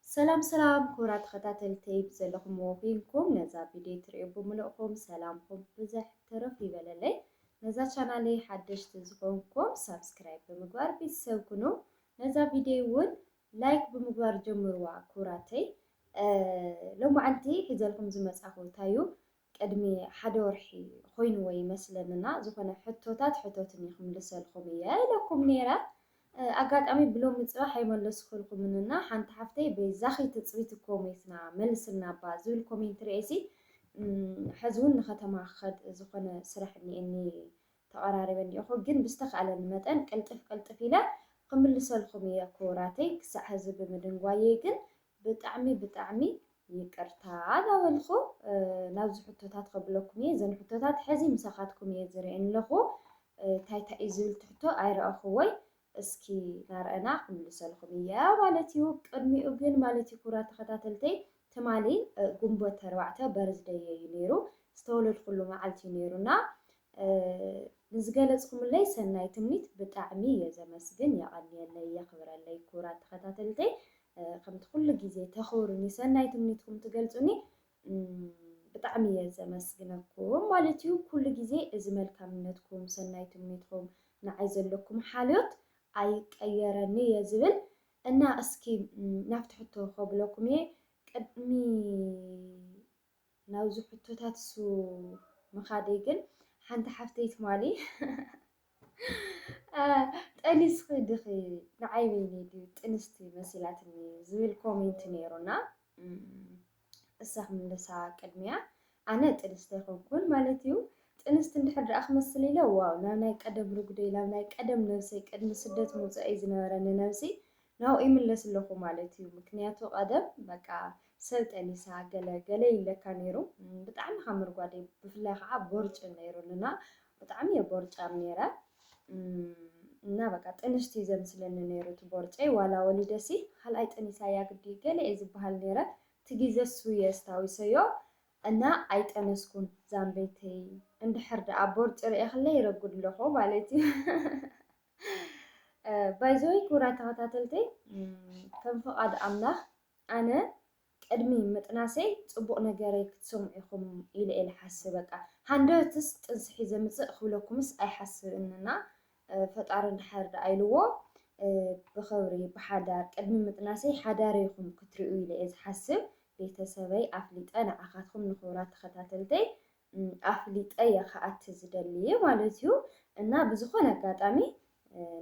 ሰላም ሰላም ክቡራት ተኸታተልተይ ብዘለኹምዎ ኮይንኩም ነዛ ቪድዮ ትሪኡ ብምልእኹም ሰላምኩም ብዘሕ ተረፍ ይበለለይ። ነዛ ቻናለይ ሓደሽቲ ዝኾንኩም ሳብስክራይብ ብምግባር ቤተሰብ ኩኑ። ነዛ ቪድዮ እውን ላይክ ብምግባር ጀምርዋ ክቡራተይ። ሎማዓንቲ ሒዘልኩም ዝመፃኹ እንታይ እዩ ቅድሚ ሓደ ወርሒ ኮይንዎ ይመስለኒ እና ዝኮነ ሕቶታት ሕቶትኒ ክምልሰልኩም እየ ኢለኩም ነይረ ኣጋጣሚ ብሎሚ ፅባሕ ኣይመለስኩልኩምን እና ሓንቲ ሓፍተይ በይዛኪ ትፅቢት እኮ ሞይትና መልስልና እባ ዝብል ኮሜንት ሪኤሲ ሕዚ እውን ንከተማ ክከድ ዝኮነ ስራሕ እኒኤኒ ተቀራሪበ እኒኤኩ ግን ብዝተካእለኒ መጠን ቅልጥፍ ቅልጥፍ ኢለ ክምልሰልኩም እየ ኩቡራተይ ክሳዕ ሕዚ ብምድንጓየይ ግን ብጣዕሚ ብጣዕሚ ይቅርታ ዳበልኩ ናብዚ ሕቶታት ከብለኩም እየ ዘን ሕቶታት ሕዚ ምሳካትኩም እየ ዝርኤን ኣለኩ ታይ ታይ እዩ ዝብል ትሕቶ ኣይረኣኩዎይ እስኪ ናርኣና ክምልሰልኩም እየ ማለት እዩ ቅድሚኡ ግን ማለት እዩ ኩራ ተከታተልተይ ትማሊ ጉንቦት ተርባዕተ በርዝደይ እዩ ነይሩ ዝተወለድኩሉ መዓልቲ እዩ ነይሩና ንዝገለፅኩምለይ ሰናይ ትምኒት ብጣዕሚ እየ ዘመስግን የቐንየለይ የኽብረለይ ክቡራት ተኸታተልተይ ከምቲ ኩሉ ግዜ ተኽብሩኒ ሰናይ ትምኒትኩም ትገልፁኒ ብጣዕሚ እየ ዘመስግነኩም ማለት እዩ ኩሉ ግዜ እዚ መልካምነትኩም ሰናይ ትምኒትኩም ንዓይ ዘለኩም ሓልዮት ኣይቀየረኒ እየ ዝብል እና እስኪ ናብቲ ሕቶ ከብለኩም እየ ቅድሚ ናብዚ ሕቶታት እሱ ምኻደይ ግን ሓንቲ ሓፍተይ ትማሊ ጠኒስኺ ድኺ ንዓይ በይነይ ድዩ ጥንስቲ መሲላትኒ ዝብል ኮሜንት ነይሩና እሳ ክምልሳ ቅድሚያ ኣነ ጥንስቲ ኣይኮንኩን ማለት እዩ ጥንስቲ እንድሕር ደኣ ክመስል ኢለ ዋው ናብ ናይ ቀደም ርጉደይ ናብ ናይ ቀደም ነብሰይ ቅድሚ ስደት ምውፀኣይ ዝነበረኒ ነብሲ ናብኡ ይምለስ ኣለኹ ማለት እዩ ምክንያቱ ቀደም በቃ ሰብ ጠኒሳ ገለ ገለ ይብለካ ነይሩ ብጣዕሚ ካብ ምርጓደይ ብፍላይ ከዓ ቦርጭ ነይሩኒ እና ብጣዕሚ እየ ቦርጫም ነይረ እና በቃ ጥንሽቲ እዩ ዘምስለኒ ነይሩ እቲ ቦርጨይ ዋላ ወሊደሲ ካልኣይ ጠኒሳ እያ ግዲ ገለ እየ ዝበሃል ነይረ እቲ ግዘ እሱ እየ ኣስታዊሰዮ እና ኣይጠነስኩን ዛምበይተይ እንድሕር ደኣ ቦርጭ ርእኽለይ ይረጉድ ኣለኹ ማለት እዩ ባይዘወይ ክቡራት ተኸታተልተይ ከም ፍቓድ ኣምላኽ ኣነ ቅድሚ ምጥናሰይ ፅቡቕ ነገረይ ክትሰምዑ ኢኹም ኢለ እየ ዝሓስብ። በቃ ሃንደበትስ ጥንስሒ ዘምፅእ ክብለኩምስ ኣይሓስብን እና ፈጣሪ እንድሓር ደኣ ኢልዎ ብኽብሪ ብሓዳር ቅድሚ ምጥናሰይ ሓዳር ኢኹም ክትሪኡ ኢለ እየ ዝሓስብ። ቤተሰበይ ኣፍሊጠ ንዓኻትኩም ንክቡራት ተኸታተልተይ ኣፍሊጠ እየ ክኣቲ ዝደልይ ማለት እዩ እና ብዝኾነ ኣጋጣሚ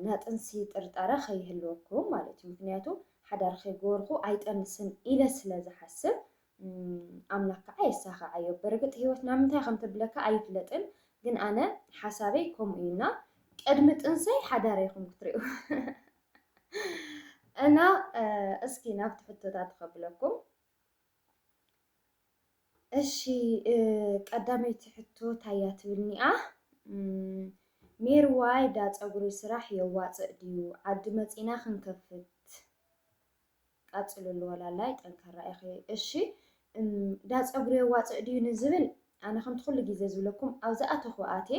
ናጥንሲ ጥርጣረ ከይህልወኩም ማለት እዩ ምክንያቱ ሓዳር ከይገበርኩ ኣይጠንስን ኢለ ስለ ዝሓስብ ኣምላክ ከዓ የሳኸዓዮ በርግጥ ህይወት ናብ ምንታይ ከም ተብለካ ኣይፍለጥን ግን ኣነ ሓሳበይ ከምኡ እዩ እና ቅድሚ ጥንሰይ ሓዳር ይኹም ክትሪኡ እና እስኪ ናብቲ ሕቶታት ከብለኩም እሺ ቀዳመይቲ ሕቶ ታያ ትብልኒኣ ሜርዋይ ዳ ፀጉሪ ስራሕ የዋፅእ ድዩ ዓዲ መፂና ክንከፍት ቀፅልሉ ወላላይ ጠንካራ ኢኺ እሺ ዳ ፀጉሪ የዋፅእ ድዩ ንዝብል ኣነ ከምቲ ኩሉ ግዜ ዝብለኩም ኣብዝኣተኹ ኣቴ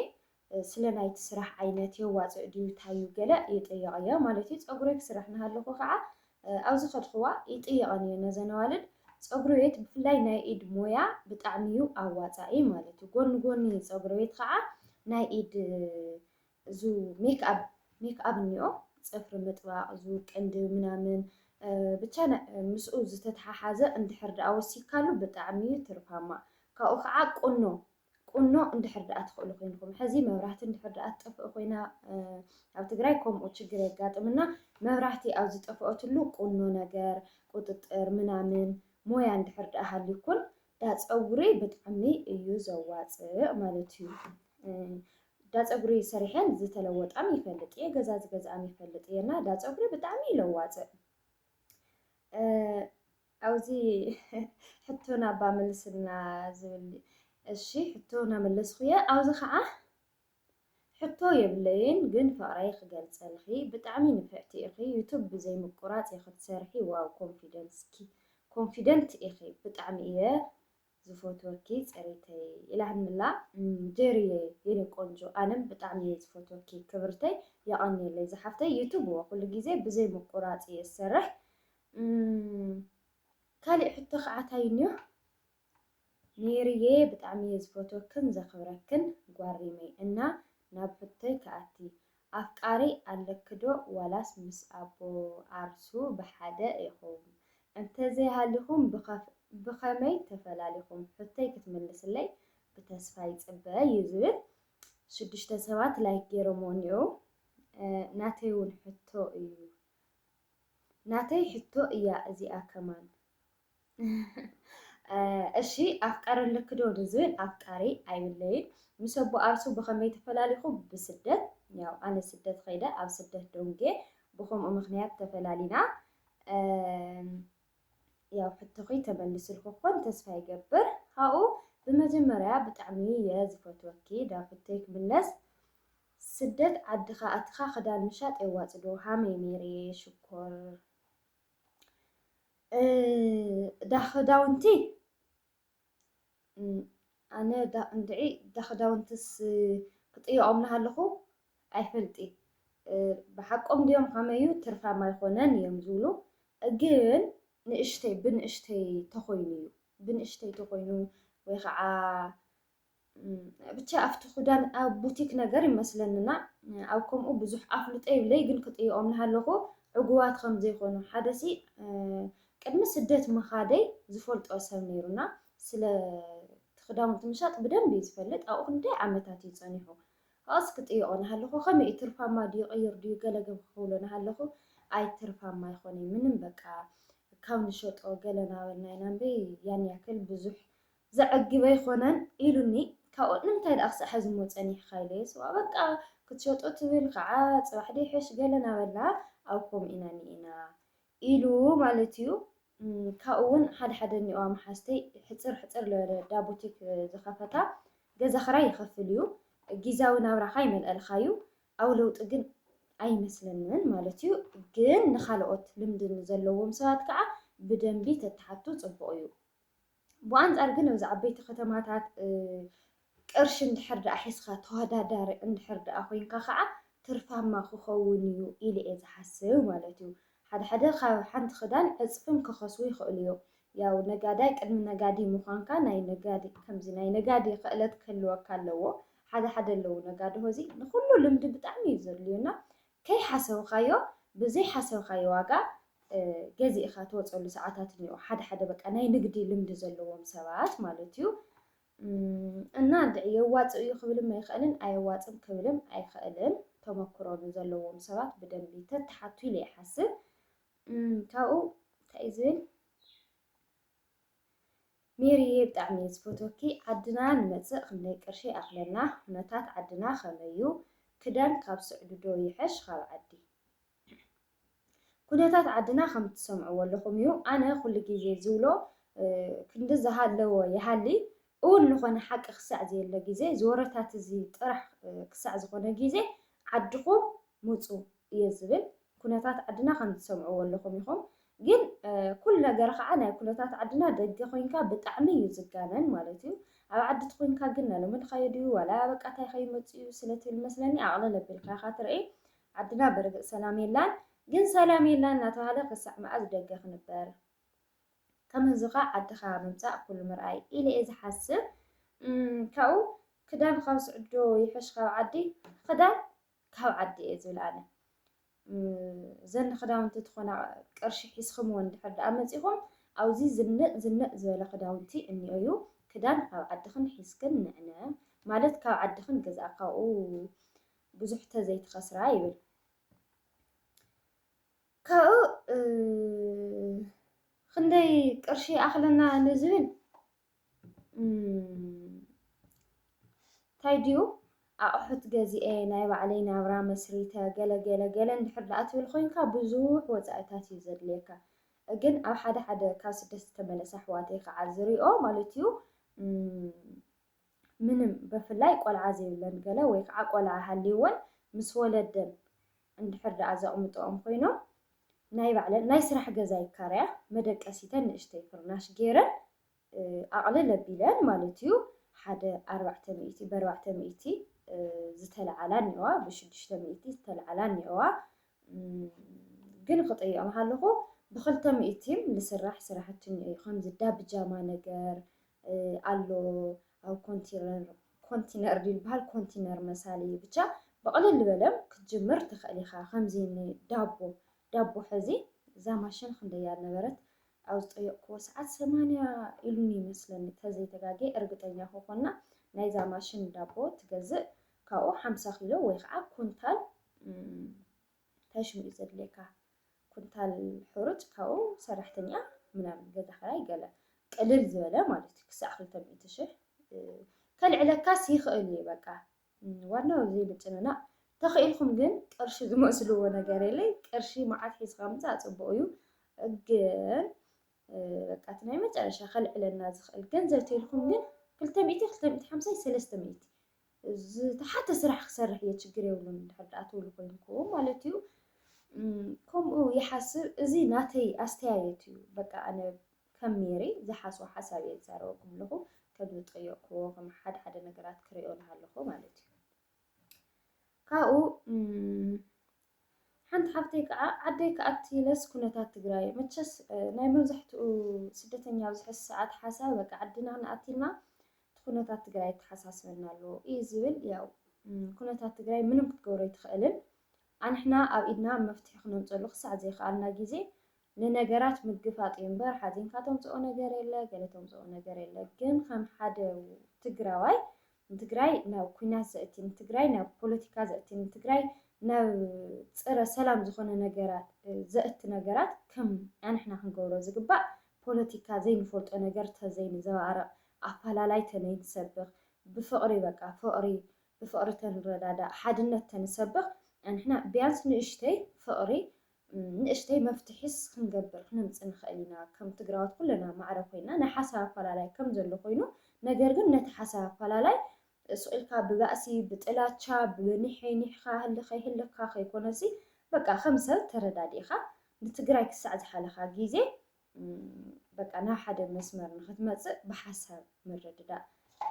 ስለ ናይቲ ስራሕ ዓይነት የዋጽእ ድዩ ታዩ ገለ ይጥይቐያ ማለት እዩ። ጸጉረይ ክስራሕ ናሃለኹ ካዓ ኣብ ዝኸድኹዋ ይጥይቐን እየ ነዘን ኣዋልድ። ጸጉረቤት ብፍላይ ናይ ኢድ ሞያ ብጣዕሚ እዩ ኣዋጻኢ ማለት እዩ። ጎኒ ጎኒ ጸጉረቤት ካዓ ናይ ኢድ እዙ ሜክኣብ ሜክኣብ እኒኦ ጽፍሪ ምጥባቕ እዙ ቅንድብ ምናምን ብቻ ምስኡ ዝተተሓሓዘ እንድሕር ደኣ ወሲካሉ ብጣዕሚ እዩ ትርፋማ። ካብኡ ካዓ ቁኖ ቁኖ እንድሕር ድኣ ትኽእሉ ኮይንኹም ሐዚ መብራህቲ እንድሕር ድኣ ትጠፍእ ኮይና ኣብ ትግራይ ከምኡ ችግር የጋጥምና መብራህቲ ኣብ ዝጠፍኦትሉ ቁኖ ነገር ቁጥጥር ምናምን ሞያ እንድሕር ድኣ ሃልዩኩን ዳፀጉሪ ብጣዕሚ እዩ ዘዋፅእ ማለት እዩ። ዳፀጉሪ ሰሪሐን ዝተለወጣም ይፈልጥ እየ ገዛ ዝገዝኣም ይፈልጥ እየ እና ዳፀጉሪ ብጣዕሚ እዩ ለዋፅእ። ኣውዚ ሕቶና እባ መልስልና ዝብል እሺ ሕቶ ናመለስኹየ ኣውዚ ኸዓ ሕቶ የብለይን ግን ፍቅረይ ክገልፀልኺ ብጣዕሚ ንፍዕቲ ኢኺ ዩቱብ ብዘይ ምቁራፅ ኢኺ ትሰርሒ ዋው ኮንፊደንስኪ ኮንፊደንት ኢኺ ብጣዕሚ እየ ዝፎትወኪ ፅሪተይ ኢላ ህድምላ ጀርየ የኔ ቆንጆ ኣነም ብጣዕሚ እየ ዝፎትወኪ ክብርተይ የቀንየለይ ዝሓፍተይ ዩቱብ እወ ኩሉ ግዜ ብዘይ ምቁራፅ እየ ዝሰርሕ ካሊእ ሕቶ ከዓ ታይ እኒኦ ሜሪየ ብጣዕሚ እየ ዝፎትወክን ዘክብረክን ጓሪመይ እና ናብ ሕቶይ ክኣቲ ኣፍቃሪ ኣለኪ ዶ ዋላስ ምስ ኣቦ ዓርሱ ብሓደ ኢኹም? እንተዘይ ሃሊኹም ብኸመይ ተፈላሊኹም? ሕቶይ ክትምልስለይ ብተስፋ ይጽበ ዩ ዝብል ሽዱሽተ ሰባት ላይክ ጌሮሞ እኒኦው ናተይ ውን ሕቶ እዩ ናተይ ሕቶ እያ እዚኣ ከማን እሺ ኣፍቃሪ ኣለኪ ዶ ንዝብል ኣፍቃሪ ኣይብለይን ምስ ኣቦ ኣርሱ ብኸመይ ተፈላሊኹ ብስደት ያው ኣነ ስደት ኸይደ ኣብ ስደት ደንጌ ብኸምኡ ምክንያት ተፈላሊና ያው ሕቶኺ ተመልስልኩ ኮን ተስፋ ይገብር ካብኡ ብመጀመርያ ብጣዕሚ እየ ዝፈትወኪ ዳፍተይ ክምለስ ስደት ዓድኻ ኣትኻ ክዳን ምሻጥ የዋፅዶ ሃመይ ሜሪ ሽኮር እዳ ክዳውንቲ ኣነ እንድዒ እዳ ክዳውንትስ ክጥይቖም እናሃለኹ ኣይፈልጥ ብሓቆም ድዮም ከመይ እዩ ትርፋማ ኣይኮነን እዮም ዝብሉ ግን ንእሽተይ ብንእሽተይ ተኾይኑ እዩ ብንእሽተይ ተኾይኑ ወይ ከዓ ብቻ ኣብቲ ክዳን ኣብ ቡቲክ ነገር ይመስለንና ኣብ ከምኡ ብዙሕ ኣፍልጦ ይብለይ ግን ክጥይቖም ንሃለኹ ዕጉባት ከም ዘይኮኑ ሓደ ሲ ቅድሚ ስደት ምኻደይ ዝፈልጦ ሰብ ነይሩና ስለ ክዳውንቲ ምሻጥ ብደንብ እዩ ዝፈልጥ ኣብኡ ክንደይ ዓመታት እዩ ፀኒሑ ካብኡስ ክጥይቖ ንሃለኹ ከመይ እዩ ትርፋማ ድዩ ቀይር ድዩ ገለገብ ክብሎ ንሃለኹ ኣይ ትርፋማ ኣይኮነይ ምንም በቃ ካብ ንሸጦ ገለ ናበልና ኢና እምበይ ያን ያክል ብዙሕ ዘዕግብ ኣይኮነን ኢሉኒ ካብኡ ንምንታይ ደኣ ክሳዕ ሐዚ እሞ ፀኒሕኻ ኢለዮስ ዋእ በቃ ክትሸጦ ትብል ከዓ ፅባሕ ዶ ይሐሽ ገለ ናበልና ኣብ ከምኡ ኢና እኒኤና ኢሉ ማለት እዩ ካብኡ እውን ሓደ ሓደ እኒኦዋ መሓዝተይ ሕፅር ሕፅር ዝበለ ዳ ቡቲክ ዝኸፈታ ገዛ ክራይ ይኸፍል እዩ ጊዛዊ ናብራኻ ይመልኣልኻ እዩ ኣብ ለውጢ ግን ኣይመስለንን ማለት እዩ ግን ንካልኦት ልምዲ ዘለዎም ሰባት ከዓ ብደንቢ ተተሓቱ ፅቡቕ እዩ ብኣንፃር ግን ኣብዚ ዓበይቲ ከተማታት ቅርሺ እንድሕር ደኣ ሒዝካ ተወዳዳሪ እንድሕር ደኣ ኮይንካ ከዓ ትርፋማ ክኸውን እዩ ኢለ እየ ዝሓስብ ማለት እዩ። ሓደ ሓደ ካብ ሓንቲ ክዳን ዕፅፍን ክኸስቡ ይኽእሉ እዮም። ያው ነጋዳይ ቅድሚ ነጋዲ ምዃንካ ናይ ነጋዲ ከምዚ ናይ ነጋዲ ክእለት ክህልወካ ኣለዎ። ሓደ ሓደ ኣለዉ ነጋድሆ እዚ ንኩሉ ልምዲ ብጣዕሚ እዩ ዘድልዩና ከይሓሰብኻዮ ብዘይሓሰብኻዮ ዋጋ ገዚእኻ ትወጸሉ ሰዓታት እኒኦ ሓደ ሓደ በቃ ናይ ንግዲ ልምዲ ዘለዎም ሰባት ማለት እዩ እና እንድዒ የዋጽእ እዩ ክብልም ኣይኽእልን ኣየዋጽም ክብልም ኣይኽእልን ተመክሮ ንዘለዎም ሰባት ብደንቢ ተተሓቱ ኢለ ይሓስብ ካብኡ እንታይ እዩ ዝብል ሜሪየ ብጣዕሚ እየ ዝፈትወኪ ዓድና ንመፅእ ክንደይ ቅርሺ ይኣክለና ኩነታት ዓድና ከመይ እዩ ክዳን ካብ ስዕዲ ዶ ይሐሽ ካብ ዓዲ። ኩነታት ዓድና ከም ትሰምዕዎ ኣለኹም እዩ ኣነ ኩሉ ግዜ ዝብሎ ክንዲ ዝሃለወ ይሃሊ እውን ዝኾነ ሓቂ ክሳዕ ዘየለ ግዜ ዝወረታት እዚ ጥራሕ ክሳዕ ዝኾነ ግዜ ዓድኹም ሙፁ እየ ዝብል ኩነታት ዓድና ከም ትሰምዕዎ ኣለኹም ኢኹም ግን ኩሉ ነገር ኸዓ ናይ ኩነታት ዓድና ደገ ኮይንካ ብጣዕሚ እዩ ዝጋነን ማለት እዩ ኣብ ዓዲ ትኮንካ ግን ናሎሚ ድካዮ ድዩ ዋላ በቃ ታይ ከይመፅ እዩ ስለ ትብል መስለኒ ኣቅልል ኣቢልካ ኢካ ትርኢ ዓድና በርግፅ ሰላም የላን ግን ሰላም የላን እናተባሃለ ክሳዕ መኣዝ ደገ ክንበር ከምህዝኻ ዓድኻ ምምፃእ ኩሉ ምርኣይ ኢለ እየ ዝሓስብ ካብኡ ክዳን ካብ ስዕዶ ይሕሽ ካብ ዓዲ ክዳን ካብ ዓዲ እየ ዝብል ኣነ ዘን ክዳውንቲ ትኾና ቅርሺ ሒዝክምዎ እንድሕር ደኣ መፂኹም ኣብዚ ዝንእ ዝንእ ዝበለ ክዳውንቲ እኒኦ እዩ ክዳን ካብ ዓድኽን ሒዝክን ንዕነ ማለት ካብ ዓድኽን ገዛእ ካብኡ ብዙሕ ተዘይትኸስራ ይብል ካብኡ ክንደይ ቅርሺ ኣኽለና ንዝብል እንታይ ድዩ ኣቑሑት ገዚኤ ናይ ባዕለይ ናብራ መስሪተ ገለ ገለ ገለ እንድሕር ደኣ ትብል ኮይንካ ብዙሕ ወፃኢታት እዩ ዘድልየካ። ግን ኣብ ሓደ ሓደ ካብ ስደት ዝተመለሳ ኣሕዋተይ ከዓ ዝሪኦ ማለት እዩ ምንም ብፍላይ ቆልዓ ዘይብለን ገለ ወይ ከዓ ቆልዓ ሃልይወን ምስ ወለደን እንድሕር ደኣ ዘቕምጠኦም ኮይኖም ናይ ባዕለን ናይ ስራሕ ገዛ ይካረያ መደቀሲተን ንእሽተይ ፍርናሽ ገይረን ኣቕልል ኣቢለን ማለት እዩ ሓደ ኣርባዕተ ሚእቲ በርባዕተ ሚእቲ ዝተለዓላ እኒኦዋ ብሽዱሽተ ሚእቲ ዝተለዓላ እኒኦዋ ግን ክጠይኦም ሃለኹ ብክልተ ሚእቲም ልስራሕ ስራሕቲ እኒኦ እዩ ከምዚ ዳብጃማ ነገር ኣሎ ኣብ ኮንቲነር ኮንቲነር ዝበሃል ኮንቲነር መሳሊ ብቻ ብቕልል ዝበለም ክትጅምር ትኽእል ኢኻ ከምዚ ዳቦ ዳቦ ሕዚ እዛ ማሽን ክንደያ ነበረት ኣብ ዝጠየቕክዎ ሰዓት ሰማንያ ኢሉኒ ይመስለኒ ተዘይተጋግየ እርግጠኛ ክኾና ናይዛ ማሽን ዳቦ ትገዝእ ካብኡ ሓምሳ ኪሎ ወይ ከዓ ኩንታል እንታይ ሽሙ እዩ ዘድልየካ ኩንታል ሕሩጭ ካብኡ ሰራሕተኛ ምናምን ገዛ ክራይ ገለ ቅልል ዝበለ ማለት እዩ ክሳዕ ክልተ ሚእቲ ሽሕ ከልዕለካስ ይኽእል እዩ በቃ ዋናው እዚ ምጭንናቅ ተኺኢልኩም ግን ቅርሺ ዝመስልዎ ነገር የለይ ቅርሺ መዓት ሒዝካ ምፃእ ፅቡቅ እዩ ግን በቃ እቲ ናይ መጨረሻ ከልዕለና ዝኽእል ገንዘብ ተልኩም ግን ክልተ ሚእቲ ክልተ ሚእቲ ሓምሳይ ሰለስተ ሚእቲ ዝተሓተ ስራሕ ክሰርሕ እየ ችግር የብሉን እንድሕር ደኣ ትብሉ ኮይንኩም ማለት እዩ ከምኡ ይሓስብ እዚ ናተይ ኣስተያየት እዩ በቃ ኣነ ከም ሜሪ ዝሓስቦ ሓሳብ እየ ዝዛረበኩም ኣለኹ ከም ዝጠየቅክዎ ከም ሓደ ሓደ ነገራት ክሪኦ ኣለኹ ማለት እዩ ካብኡ ሓንቲ ሓፍተይ ከዓ ዓደይ ክኣቲ ኢለስ ኩነታት ትግራይ መቸስ ናይ መብዛሕትኡ ስደተኛ ኣብዚ ሕዚ ሰዓት ሓሳብ በቃ ዓድና ንኣቲና እቲ ኩነታት ትግራይ ተሓሳስበና ኣሎ እዩ ዝብል ያው ኩነታት ትግራይ ምንም ክትገብሮ ኣይትኽእልን ኣንሕና ኣብ ኢድና መፍትሒ ክነምፀሉ ክሳዕ ዘይከኣልና ግዜ ንነገራት ምግፋጥ እዩ እምበር ሓዚንካ ተምጽኦ ነገር የለ ገለ ተምጽኦ ነገር የለ ግን ከም ሓደ ትግራዋይ ንትግራይ ናብ ኩናት ዘእቲ ንትግራይ ናብ ፖለቲካ ዘእቲ ንትግራይ ናብ ጽረ ሰላም ዝኾነ ነገራት ዘእቲ ነገራት ከም ኣንሕና ክንገብሮ ዝግባእ ፖለቲካ ዘይንፈልጦ ነገር ተዘይንዘባርቕ ኣፈላላይ ተነይንሰብኽ ብፍቕሪ በቃ ፍቕሪ ብፍቕሪ ተንረዳዳእ ሓድነት ተንሰብኽ ኣንሕና ቢያንስ ንእሽተይ ፍቕሪ ንእሽተይ መፍትሒስ ክንገብር ክነምጽእ ንኽእል ኢና። ከም ትግራዎት ኩለና ማዕረ ኮይና ናይ ሓሳብ ኣፋላላይ ከም ዘሎ ኮይኑ ነገር ግን ነቲ ሓሳብ ኣፋላላይ ሱቕ ኢልካ ብባእሲ ብጥላቻ ብኒሕይ ኒሕኻ ህልኸይ ህልኽካ ከይኮነሲ በቃ ከም ሰብ ተረዳዲእኻ ንትግራይ ክሳዕ ዝሓለኻ ግዜ በቃ ናብ ሓደ መስመር ንኽትመጽእ ብሓሳብ ምርድዳእ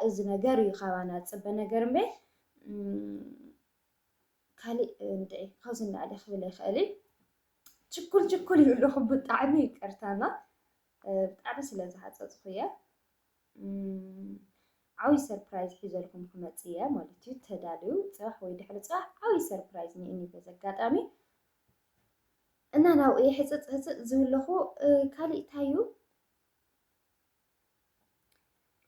እዚ ነገር እዩ ካባና ዝጽበ ነገር እምበይ ካሊእ እንድዒ ካብዚ ንላዕሊ ክብል ኣይክእልን ችኩል ችኩል ይብሉ ኣለኹ ብጣዕሚ ይቅርታ እና ብጣዕሚ ስለ ዝሃፀፅኹ እየ ዓብዪ ሰርፕራይዝ ሒዘልኩም ክመፅ እየ ማለት እዩ ተዳልዩ ፅባሕ ወይ ድሕሪ ፅባሕ ዓብዪ ሰርፕራይዝ ንእኒ በዚ ኣጋጣሚ እና ናብኡ እየ ሕፅፅ ህፅፅ ዝብለኹ ካሊእ እንታይ እዩ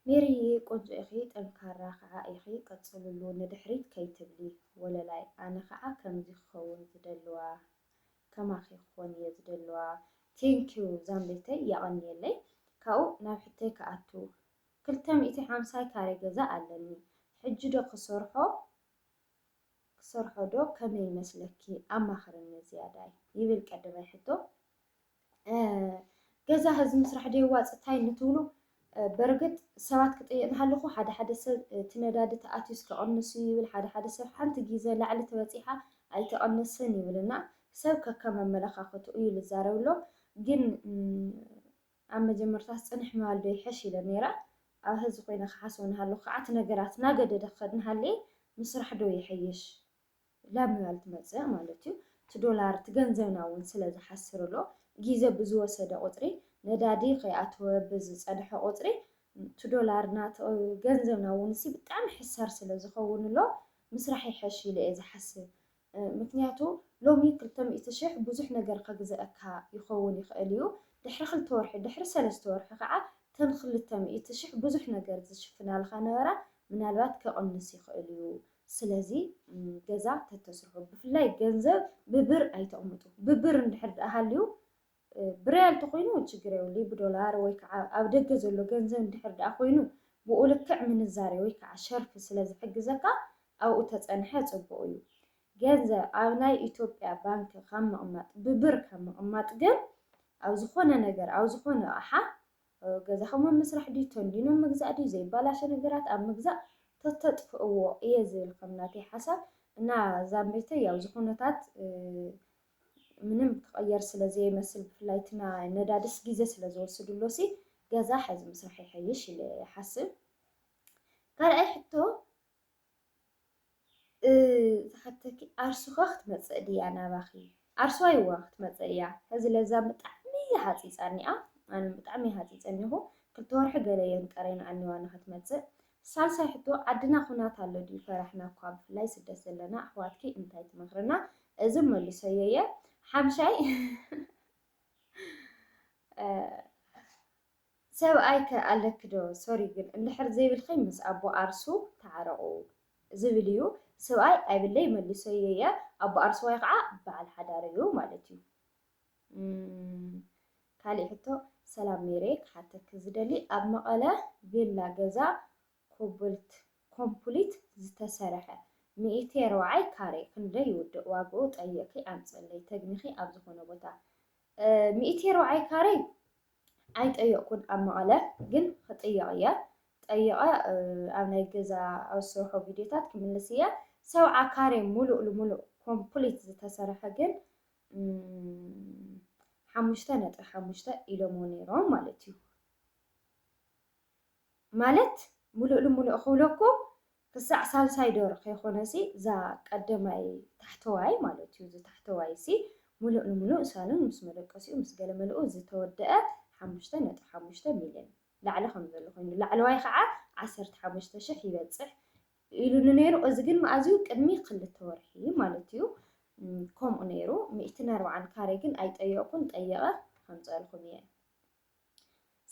ሜሪየ ቆንጆ ኢኺ ጠንካራ ክዓ ኢኺ ቀፅልሉ ንድሕሪት ከይትብሊ ወለላይ ኣነ ክዓ ከምዚ ክከውን ዝደልዋ ከማኺ ክኮን እየ ዝደልዋ Thank you ዛምበይተይ የቀንየለይ ካብኡ ናብ ሕቶይ ክኣቱ ክልተ ሚእቲ ሓምሳይ ካሬ ገዛ ኣለኒ ሕጂ ዶ ክሰርሖ ክሰርሖ ዶ ከመይ ይመስለኪ ኣማኽርኒ ዝያዳይ ይብል ቀደማይ ሕቶ ገዛ ህዚ ምስራሕ ዶ የዋፅእ እንታይ እንትብሉ በርግጥ ሰባት ክጠየቅ ሃለኹ ሓደ ሓደ ሰብ እቲ ነዳዲ ተኣትዩስ ክቕንስ እዩ ይብል፣ ሓደ ሓደ ሰብ ሓንቲ ግዘ ላዕሊ ተበፂሓ ኣይተቐነሰን ይብል እና ሰብ ከከም ኣመለኻኸቱ እዩ ልዛረብ ኣሎ። ግን ኣብ መጀመርታስ ፅንሕ ምባል ዶ ይሐሽ ኢለ ነይረ ኣብ ህዚ ኮይነ ክሓስቦ ንሃለኹ ከዓ እቲ ነገራት እናገደደ ክኸድ ንሃለየ ምስራሕ ዶ ይሐይሽ? ላብ ምባል ትመጽእ ማለት እዩ። እቲ ዶላር እቲ ገንዘብና እውን ስለ ዝሓስር ኣሎ። ግዜ ብዝወሰደ ቁጽሪ ነዳዲ ከይኣተወ ብዝጸንሐ ቁጽሪ እቲ ዶላርና እቲ ገንዘብና እውን ብጣዕሚ ሕሳር ስለ ዝኸውን ኣሎ ምስራሕ ይሐሽ ኢለ እየ ዝሓስብ። ምክንያቱ ሎሚ ክልተ ሚእቲ ሽሕ ብዙሕ ነገር ከግዘኣካ ይኸውን ይኽእል እዩ። ድሕሪ ክልተ ወርሒ ድሕሪ ሰለስተ ወርሒ ከዓ እተን ክልተ ሚእቲ ሽሕ ብዙሕ ነገር ዝሽፍናልኻ ነበራ ምናልባት ክቕንስ ይኽእል እዩ። ስለዚ ገዛ ተተስርሑ ብፍላይ ገንዘብ ብብር ኣይተቕምጡ። ብብር እንድሕር ደኣ ሃልዩ ብሪያል ተኾይኑ ችግር የብሉ ብዶላር ወይ ከዓ ኣብ ደገ ዘሎ ገንዘብ እንድሕር ደኣ ኮይኑ ብኡ ልክዕ ምንዛሬ ወይ ከዓ ሸርፊ ስለ ዝሕግዘካ ኣብኡ ተፀንሐ ፅቡቕ እዩ። ገንዘብ ኣብ ናይ ኢትዮጵያ ባንኪ ካብ ምቕማጥ ብብር ካብ ምቕማጥ ግን ኣብ ዝኾነ ነገር ኣብ ዝኾነ ኣቕሓ ኣብ ገዛኹም ኣብ ምስራሕ ድዩ ተንዲኖ ኣብ ምግዛእ ድዩ ዘይባላሾ ነገራት ኣብ ምግዛእ ተተጥፍእዎ እየ ዝብል ከም ናተይ ሓሳብ እና ዛምቤተይ ያው ዝኹነታት ምንም ክቐየር ስለ ዘይመስል ብፍላይ እቲ ነዳድስ ግዜ ስለ ዝወስድሎ ሲ ገዛ ሕዚ ምስራሕ ይሐይሽ ኢለ ይሓስብ ካልኣይ ሕቶ ዝሓተኪ ዓርሱ ከ ክትመጽእ ድያ ናባኪ ዓርሱ ኣይዋ ክትመጽእ እያ ሕዚ ለዛ ብጣዕሚ እያ ሃጺጻ እኒኣ ኣነ ብጣዕሚ እየ ሃጺጸ እኒኹ ክልተ ወርሒ ገለ እየን ቀርየንኣን እኒዋ ንክትመጽእ ሳልሳይ ሕቶ ዓድና ኩናት ኣሎ ድዩ ፈራሕና እኳ ብፍላይ ስደት ዘለና ኣሕዋትኪ እንታይ ትመክርና እዚ መልሰዮ እየ ሓምሻይ ሰብኣይ ከ ኣለኪ ዶ ሶሪ ግን እንድሕር ዘይብልኪ ምስ ኣቦ ኣርሱ ተዓረቁ ዝብል እዩ ስብኣይ ኣይብለይ መልሶዮ እየ ኣቦ ኣርሱዋይ ከዓ በዓል ሓዳር እዩ ማለት እዩ ካሊእ ሕቶ ሰላም ሜሬ ክሓተኪ ዝደሊ ኣብ መቐለ ቪላ ገዛ ኮብልት ኮምፕሊት ዝተሰረሐ ሚእቲ ርብዓይ ካሬ ክንደይ ይውድእ ዋግኡ ጠይቅኪ ኣምፅእለይ ተግኒኪ ኣብ ዝኾነ ቦታ ሚእቲ ርብዓይ ካሬ ኣይጠየቕኩን ኣብ መቐለ ግን ክጥየቕ እየ ጠይቐ ኣብ ናይ ገዛ ኣብ ዝሰርሖ ቪድዮታት ክምልስ እየ ሰብዓ ካሬ ሙሉእ ልሙሉእ ኮምፕሊት ዝተሰርሐ ግን ሓሙሽተ ነጥቢ ሓሙሽተ ኢሎሞ ነይሮም ማለት እዩ ማለት ሙሉእ ልሙሉእ ክብለኩም ክሳዕ ሳልሳይ ዶር ከይኮነሲ እዛ ቀደማይ ታሕተዋይ ማለት እዩ እዚ ታሕተዋይሲ ሙሉእ ንሙሉእ ሳሎን ምስ መደቀሲኡ ምስ ገለ መልኡ ዝተወደኣ ሓሙሽተ ነጥቢ ሓሙሽተ ሚልዮን ላዕሊ ከም ዘሎ ኮይኑ ላዕለዋይ ከዓ ዓሰርተ ሓሙሽተ ሽሕ ይበፅሕ ኢሉኒ ነይሩ እዚ ግን መኣዝ እዩ ቅድሚ ክልተ ወርሒ ማለት እዩ ከምኡ ነይሩ ሚእትን ኣርብዓን ካሬ ግን ኣይጠየቕኩን ጠየቐ ከምፀልኹም እየ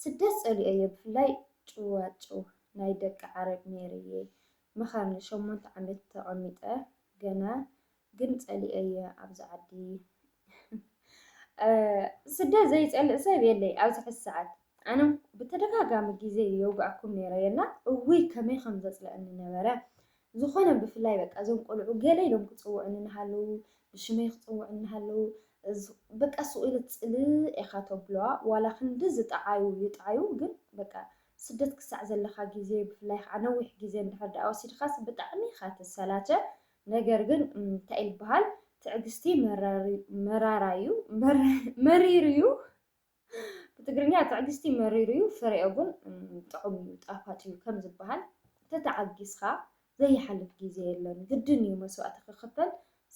ስደት ጸሊኦዮ ብፍላይ ጭዋጭው ናይ ደቂ ዓረብ ሜሪየ መኻኒ ሸሞንተ ዓመት ተቀሚጠ ገና ግን ጸሊኦዮ ኣብዚ ዓዲ ስደት ዘይጸልእ ሰብ የለይ ኣብዚ ሕዚ ሰዓት ኣነ ብተደጋጋሚ ግዜ የውግኣኩም ነይረ የላ እውይ ከመይ ከም ዘጽልኣኒ ነበረ ዝኾነ ብፍላይ በቃ እዞም ቆልዑ ገለ ኢሎም ክጽውዑኒ እናሃለዉ ብሽመይ ክጽውዑኒ እናሃለዉ በቃ ሱቕ ኢለ ጽልእ ኢኻ ተብሎዋ ዋላ ክንዲ ዝጠዓዩ ይጥዓዩ ግን በቃ ስደት ክሳዕ ዘለኻ ግዜ ብፍላይ ከዓ ነዊሕ ግዜ እንድሕር ደኣ ወሲድካስ ብጣዕሚ ኢኻ ትሰላቸ ነገር ግን እንታይ ይበሃል ትዕግስቲ መራር መራራ እዩ መሪር እዩ ብትግርኛ ትዕግስቲ መሪር እዩ ፍሬኡ ግን ጥዑም እዩ ጣፋጭ እዩ ከም ዝበሃል ተተዓጊስኻ ዘይሓልፍ ግዜ የለን ግድን እዩ መስዋእቲ ክኽፈል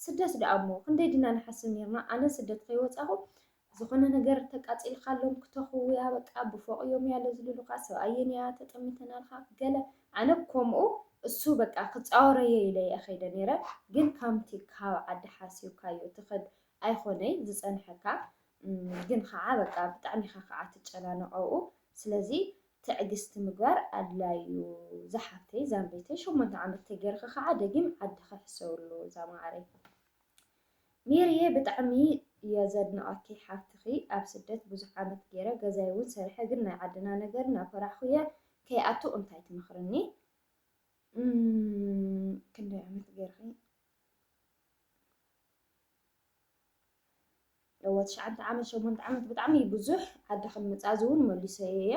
ስደት ደኣ እሞ ክንደይ ድና ንሓስብ ነርና ኣነ ስደት ከይወፃኹ ዝኾነ ነገር ተቃፂልካሎም ክተኽውያ በቃ ብፎቕ እዮም ያለ ዝልሉኻ ሰብኣየን እያ ተጠሚተናልካ ገለ ኣነ ከምኡ እሱ በቃ ክፃወረየ ኢለ እየ ከይደ ነይረ ግን ከምቲ ካብ ዓዲ ሓሲብካዮ ትኸድ ኣይኮነይ ዝፀንሐካ ግን ኸዓ በቃ ብጣዕሚ ኢኻ ኸዓ ትጨናነቕ ኣብኡ ስለዚ ትዕግስቲ ምግባር ኣድላይ እዩ ዛሓፍተይ ዛምበይተይ ሸሞንተ ዓመት ተገይርኺ ኸዓ ደጊም ዓድኺ ሕሰብሉ ዛማዓረይ ሜሪየ ብጣዕሚ እየ ዘድንቐኪ ሓፍትኺ ኣብ ስደት ብዙሕ ዓመት ገይረ ገዛይ እውን ሰሪሐ ግን ናይ ዓድና ነገር እናፈራሕኹ እየ ከይኣቱ እንታይ ትመኽርኒ ክንደይ ዓመት ገይርኺ እወ ትሽዓተ ዓመት ሸሞንተ ዓመት ብጣዕሚ እዩ ብዙሕ ዓዲ ከምመፃእዚ እውን መሊሰዮ እየ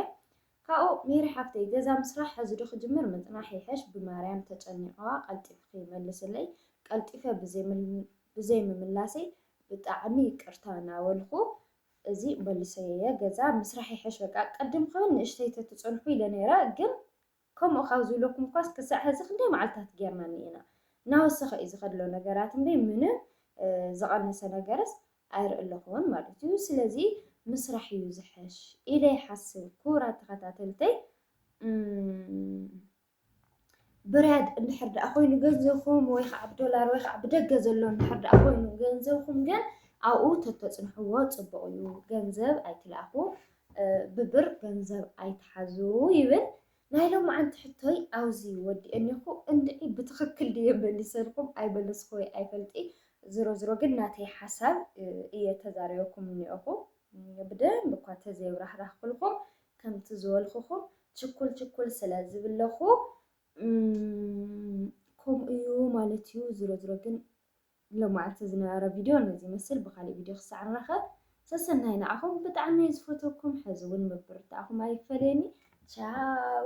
ካብኡ ሜሪ ሓፍተይ ገዛ ምስራሕ ሕዚ ዶ ክጅምር ምፅናሕ ይሐሽ ብማርያም ተጨኒቐዋ ቀልጢፍኺ መልስለይ ቀልጢፈ ብዘይምምላሰይ ብጣዕሚ ይቅርታ እናበልኩ እዚ መሊሰዮ እየ ገዛ ምስራሕ ይሐሽ በቃ ቅድም ክብል ንእሽተይ ተትፀንሑ ኢለ ነይረ ግን ከምኡ ካብ ዝብለኩምኳስ ክሳዕ ሐዚ ክንደይ መዓልትታት ጌርና እኒኤና። እናወሰኸ እዩ ዝኸድ ዘሎ ነገራት እምበይ ምንም ዝቐነሰ ነገርስ ኣይርእለኹን ማለት እዩ። ስለዚ ምስራሕ እዩ ዝሐሽ ኢለ ይሓስብ። ክቡራት ተኸታተልተይ ብርያድ እንድሕር ደኣ ኮይኑ ገንዘብኩም ወይ ከዓ ብዶላር ወይ ከዓ ብደገ ዘሎ እንድሕር ደኣ ኮይኑ ገንዘብኩም ግን ኣብኡ ተተፅንሕዎ ፅቡቕ እዩ። ገንዘብ ኣይትልኣኹ። ብብር ገንዘብ ኣይትሓዙ ይብል ናይ ሎምዓንቲ ሕቶይ ኣውዚ ወዲ እኔኹ እንድዒ ብትኽክል ድየ መሊሰልኩም ኣይመለስኩወይ ኣይፈልጢ ዝሮ ዝሮ ግን ናተይ ሓሳብ እየ ተዛሪበኩም እኔኹ ብደንብ እኳ ተዘይብራህራህኩልኩም ከምቲ ዝበልኹኹም ችኩል ችኩል ስለ ዝብለኹ ከምኡ እዩ ማለት እዩ ዝሮ ዝሮ ግን ሎማዓልቲ ዝነበረ ቪድዮ ነዚ ይመስል ብካሊእ ቪድዮ ክሳዕ ንራከብ ሰሰናዩ ንዓኹም ብጣዕሚ እየ ዝፈትወኩም ሐዚ እውን ምብርታዕኹም ኣይፈለየኒ ቻው።